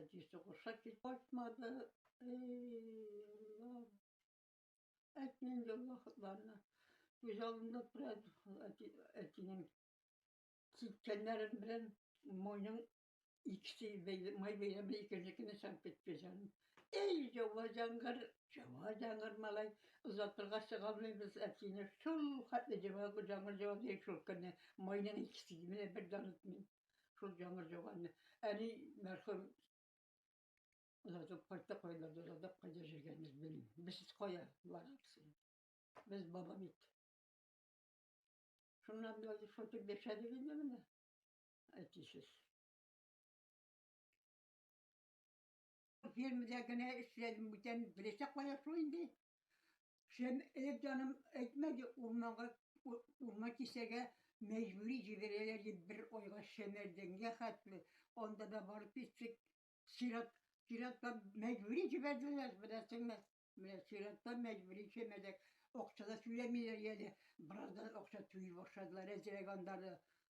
Әти сугышка кит кайтмады. Эй, Әти инде ул вакытларны күз алдында тора әти, әтинең киткәннәрен белән мойның икесе май бәйләме икенче көне чыгып китте җаным. Эй, җава җангыр, җава җангыр малай, озатырга чыга алмыйбыз әтине. Шул хәтле җава җангыр җава ди шул көнне. Майның икесе менә бер дан үтми. Шул яңгыр жауганны. Әни мәрхүм озатып кайтты, кайларда озатып кайда жүргәнен без белмим. Без кая барабыз? Без баба бит. Шуннан без шутып яшәдек инде менә. Әтисез. Фермада генә эшләдем, бүтән беләчәк кая шул инде. Шем элек җаным әйтмәде, урманга урман кисәргә мәҗбүри җибәрәләр дип бер айга шәмәрдәнгә хәтле анда да барып киттек. Сират сиратка мәҗбүри җибәрделәр, беләсеңме? Менә сиратка мәҗбүри шәмәрдәк. Акча да түләмиләр әле. Бераздан акча түли башладылар, әзрәк аннары.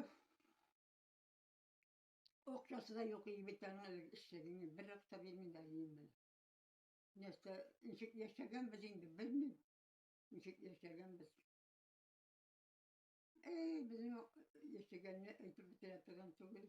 Ух. Акчасы да юк, егет тәңә эшләгәне, бер акча бирми дә инде. Нәрсә, ничек яшәгәнбез инде, белмим. Ничек яшәгәнбез. Эй, безнең яшәгәнне әйтеп бетерә торган түгел.